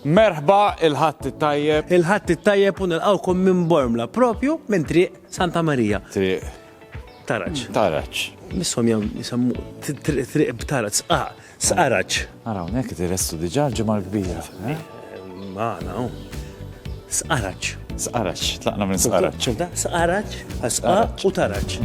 Merħba, il-Ħadd it-Tajjeb. Il-Ħadd it-Tajjeb u nilqgħukom minn Bormla, propju minn Triq Santa Marija. Triq. Taraġ. Taraġ. Misshom jam jisemmu Triq B'Taraġ, Sqaq, Sqaraġ. Ara hawnhekk direstu diġà l-ġimgħa l-kbira. Eh? Magħna hawn. Sqaraġ. Sqaraġ, tlaqna minn sqaraġ. Sqaraġ, sqaraġ u taraġ.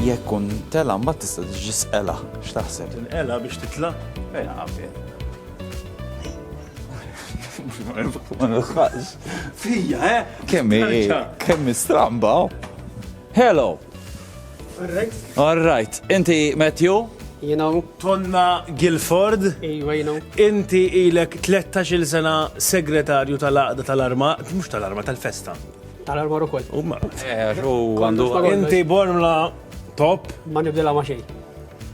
jekk kun tela mbagħad tista' tiġi sqela x'taħseb? Tinqela biex titla'? Ejja qabel. Fija, eh? Kemmi, kemmi stramba. Oh. Hello. All right. All right. Inti Matthew? you know. Tonna Guilford. Iwa, you know. Inti ilek 13 sena segretarju tal-aqda tal-arma, mux tal-arma, tal-festa. Tal-arma u koll. U marra. Eh, għandu. Inti bormla top. Ma nibdela ma xej.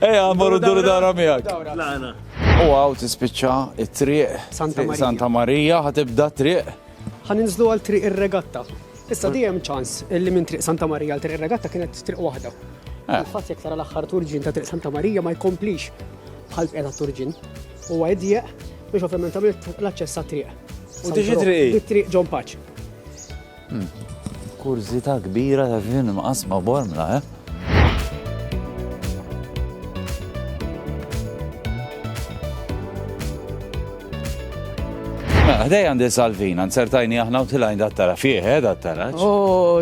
Eja, morru d-duru dawra miegħek. Tlaqna. U għaw tispiċċa it-triq. Santa Marija. Santa Marija ħatibda triq. Ħaninżlu għal triq ir-regatta. Issa dijem ċans li minn triq Santa Marija għal triq ir-regatta kienet triq waħda. Eh. Fatt jek tara l-aħħar turġin ta' triq Santa Marija ma jkomplix bħal bqeda turġin. U għedjeq biex ovvjament għamilt l-aċċess triq. U diġi triq. Triq John Paċ. Kurżità kbira ta' xi nimqas ma' Bormla, eh? Mela, ħdejja għandi Salvina, nzertajni aħna u tilgħin dat tara fih, eh, dat taraġ.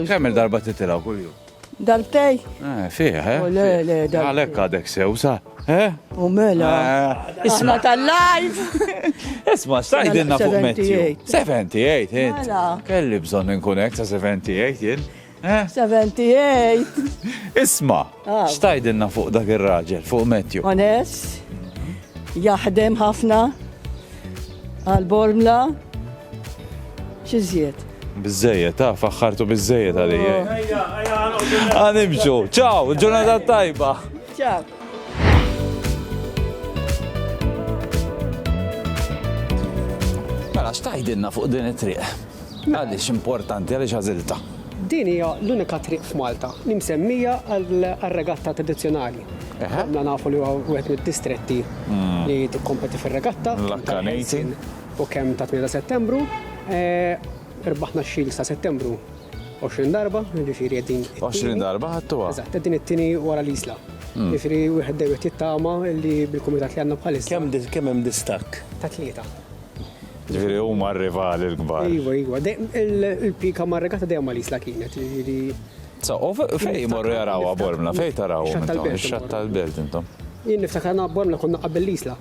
Kemm-il darba titilgħu kuljum? Dal-tej? Eh, fih, eh? Oh, le, le, dal-tej. Għalek għadek sew, sa? Eh? U mela. Eh, isma tal-live. Isma, stajdinna fuq Matthew. 78, eh? Mela. Kelli bżon ninkunek sa 78, jien. 78. Isma, ah. stajdinna fuq dak il-raġel, fuq Matthew. Onest, jaħdem ħafna, għal-bormla, xizjiet. Biżżejjed, ah, faħħartu biżżejjed għalija. Oh, ejja, ejja, ah, nimxu. Ciao, ġurnata tajba. Ciao. Mela, xtajdinna fuq din it-triq? Għaliex importanti, għaliex għażilta. Din hija l-unika triq f'Malta li msemmija għal-regatta tradizzjonali. Għamna nafu li huwa wieħed mid-distretti hmm. li tikkompeti fir-regatta. L-Akkanejti. U kemm ta' 8 ta' Settembru, irbaħna x-Shields ta' Settembru 20 darba, ġifieri qegħdin. 20 darba ħadtuha. Eżatt, qegħdin it-tieni wara l-Isla. Hmm. Ġifieri wieħed dejjem qed jittama li bil-kumitat li għandna bħalissa. Kemm kemm hemm distakk? Ta' tlieta. Ġifieri huma r-rivali l-kbar. Iva, iva. Il-pika mar-regata dejjem ma' l-Isla kienet, ġifieri. So, u fejn jmorru jarawha bormla, fejn tarawhom intom? Ix-xatt tal-belt intom. Jien niftakar na bormla konna qabel l-Isla.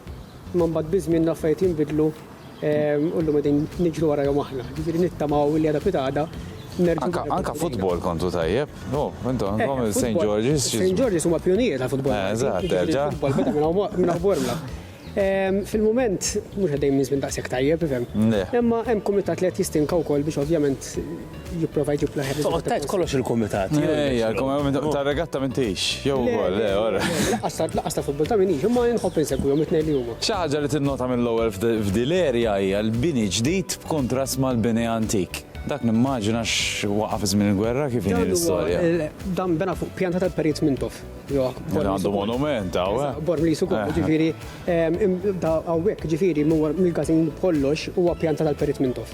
Imma mbagħad biż-żmien l-affarijiet jinbidlu u llum qegħdin niġru warajhom aħna. Jiġifieri nittamaw li għada pitgħada nerġgħu. Anke anke futbol kontu tajjeb. No, intom għandkom eh, il-St. George's. St. George's huma pjunijiet għal futbol. Eh, eżatt, terġa'. Futbol beda minn Bormla. Ehm, fil-moment, mux għaddej minn zmin daqsek tajjeb, fem. Imma hemm komitat li qed jistinka wkoll biex ovvjament jipprova jġib l ħedż Toqgħod tajt kollox il-kumitat. Ejja, il-kumitat ta' regatta minn tix. Jew ukoll, le, ora. Laqas ta' futbol ta' minn hix, imma nħobb insegwihom it-tnejn li huma. Xi ħaġa li tinnota mill-ewwel f'dil-erja hija l-bini ġdid b'kuntrast mal-bini antik. Dak nimmaġina x'waqaf żmien il-gwerra kif inhi l-istorja. Dan bena fuq pjanta tal-Perit Mintoff. Għandu monument, għaw. Eh? Bor li sukur, eh, eh. ġifiri, għawek, ġifiri, mill-gazin kollox huwa pjanta tal-Perit Mintoff.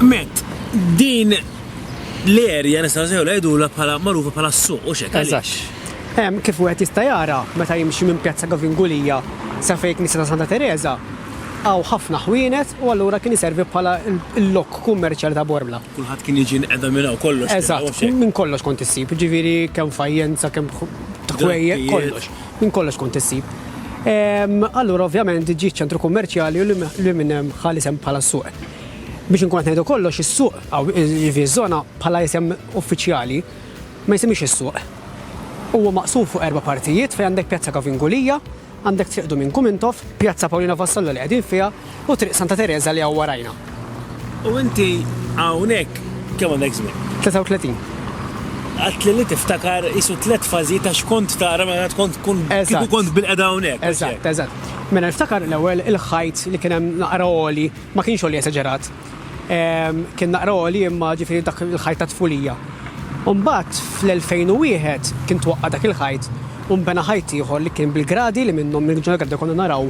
Met, din l-erja nistgħu sew ngħidulha bħala magħrufa bħala s-suq u xek. Eżax. Hemm kif wieħed jista' jara meta jimxi minn Pjazza Gavingulija sa fejn Knisja ta' Santa Teresa għaw ħafna ħwienet u allura kien iservi bħala l-lok kummerċjali ta' Bormla. Kulħadd kien jiġi nqeda minn hawn kollox. Eżatt, minn kollox kont issib, ġifieri kemm fajjenza, kemm ħwejjed, kollox. Minn kollox kont issib. Allura ovvjament ġie ċ-ċentru kummerċjali u li minn hemm ħa l-isem bħala s-suq. Biex inkun qed ngħidu kollox, is-suq, jiġifieri ż-żona bħala isem uffiċjali, ma jisimhiex is-suq. Huwa maqsum fuq erba' partijiet fejn għandek Pjazza Kavingulia, għandek Triq Duminku Mintoff, Pjazza Paulina Vassallo li qegħdin fiha, U Triq Santa Tereża li hawn warajna. U inti hawnhekk kemm għandek żmien? 33. Għedtli li tiftakar qisu tliet fażijiet għax kont tara mela tkun tkun kieku kont bilqiegħda hawnhekk. Eżatt, eżatt. Mela niftakar l-ewwel il-ħajt li kien hemm naqra għoli, ma kienx għoli esaġerat. Kien naqra għoli imma ġifieri dak il-ħajt ta' tfulija. U mbagħad fl-2001 kien twaqqa' dak il-ħajt u nbena ħajt ieħor li kien bil-gradi li minnhom minn ġol gradi konna naraw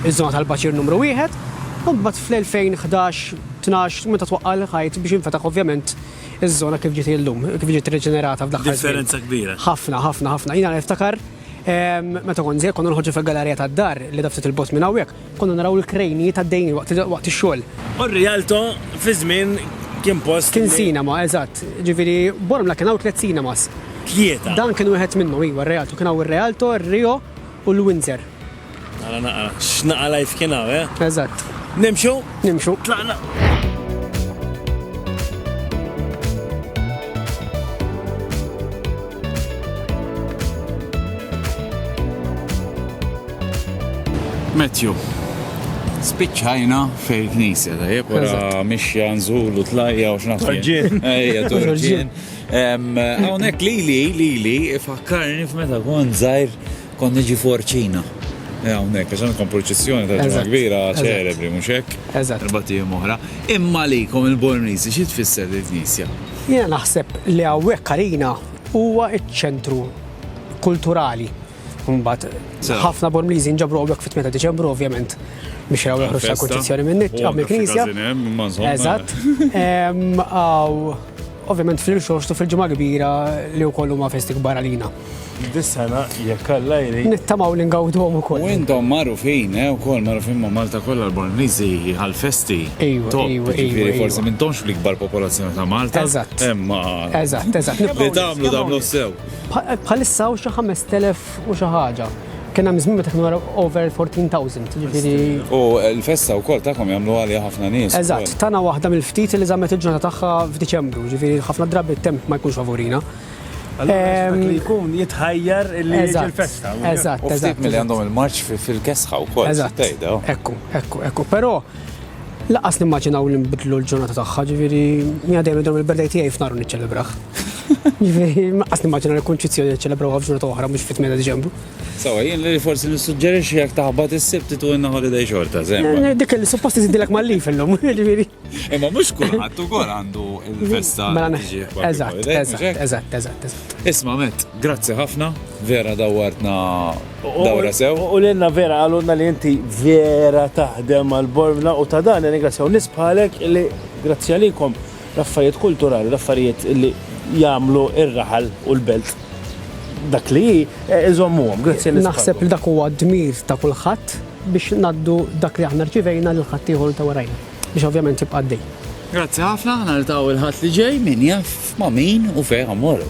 iż-żona tal-baċir numru wieħed. U mbagħad fl-2011, tnax, meta twaqqa' l-ħajt biex infetaħ ovvjament iż-żona kif ġiet hi llum, kif ġiet riġenerata f'l-aħħar żmien. Differenza kbira. Ħafna, ħafna, ħafna. Jiena niftakar meta kont żgħir konna noħorġu fil-galarija tad-dar li edha ftit 'il bogħod minn hawnhekk. Konna naraw il-krejnijiet għaddejjin waqt ix-xogħol. U r-Rialto fi żmien kien post. Kien cinema, eżatt. Ġifieri, Bormla kien hawn tliet cinemas. Tlieta? Dan kien wieħed minnhom, iva, r-Rialto. Kien hawn ir-Rialto, ir-Rio u l-Windsor. Ara naqra x'naqra life kien hawn, eh? Eżatt. Nimxu? Nimxu. Tlaqna. Matthew, spiċċajna fej knisja, tajjeb, wara mixja nżulu tlajja u xnaħseb. Torġin. Ejja, torġin. Hawnhekk lili, lili, ifakkarni f'meta kont żgħir Kont niġi f'Orcina. Eh, hawnhekk, għax hemm il-kompurċizzjoni tal-Ġimgħa Kbira ċelebri, mhux hekk? Eżatt. Erbat ijiem oħra. Imma għalikom il-Bormliżi xi tfisser din il-knisja? Jiena naħseb li hawnhekk għalina huwa ċ-ċentru kulturali. Imbagħad ħafna Bormliżi nġabru hawnhekk fit-8 ta' Diċembru ovvjament biex jaraw l-ħruġ ta' kurċizzjoni minn nit għam il-knisja. Eżatt. Ovvjament fil-xorxtu fil-ġimgħa kbira li wkoll huma festi kbar għalina. Dis-sena jekk Alla jrid. Nittamaw li ngawduhom ukoll. U intom magħrufin, eh, ukoll magħrufin ma' Malta kollha l-Bormliżi għall-festi. Ejwa, Top, ejwa, ejwa, jiġifieri ejwa. forsi m'intomx fl-ikbar popolazzjoni ta' Malta. Eżatt. Imma Eżatt, eżatt. li Nibqgħu tagħmlu nitkellmu tagħmlu sew. Bħa- Bħalissa hawn xi 5,000 u xi ħaġa. Kien hemm żmien meta kienu ra- over 14,000, jiġifieri. U l-festa wkoll tagħkom jagħmlu għaliha ħafna nies. Eżatt, tagħna waħda mill-ftit li żammet il-ġurnata tagħha f'Diċembru, jiġifieri ħafna drabi t-temp ma jkunx favurina. Ehm, li jkun jitħajjar li il-festa. Eżatt. U ftit mill għandhom il-marċ fil-kesħa u kol. Eżatt. Ekku, ekku, ekku. Pero, laqas nimmaġinaw li nbidlu l-ġurnata tagħha, ġifieri jiena dejjem idhom il-birthday tiegħi f'nar niċċelebraħ. Ġifieri laqas nimmaġinaw li kunċizzjoni niċċelebraw f'ġurnata oħra mhux fit-tmena Diċembru. Sawa, jien li forsi nissuġġerixxi jekk taħbad is-sibt tu inna holiday xorta, żemma. Dik li suppost iżidilek mal-lif illum, ġifieri. Imma mhux kulħadd ukoll għandu l-festa. Mela eżatt, eżatt, eżatt, eżatt. Isma' met, grazzi ħafna, vera dawwartna dawra sew. U l-inna vera għalunna li inti vera taħdem għal-bormna u ta' dan ringrazzjaw nisbħalek li grazzi għalikom l-affarijiet kulturali, l-affarijiet li jagħmlu ir-raħal u l-belt dak li eh, iżommuhom, grazzi Naħseb li dak huwa dmir ta' kulħadd biex ngħaddu dak li aħna rċivejna lil ħaddieħor li ta' warajna biex ovvjament jibqa' għaddej. Grazzi ħafna, aħna niltaqgħu l-Ħadd li ġej, min jaf ma' min u fejn ħammorru.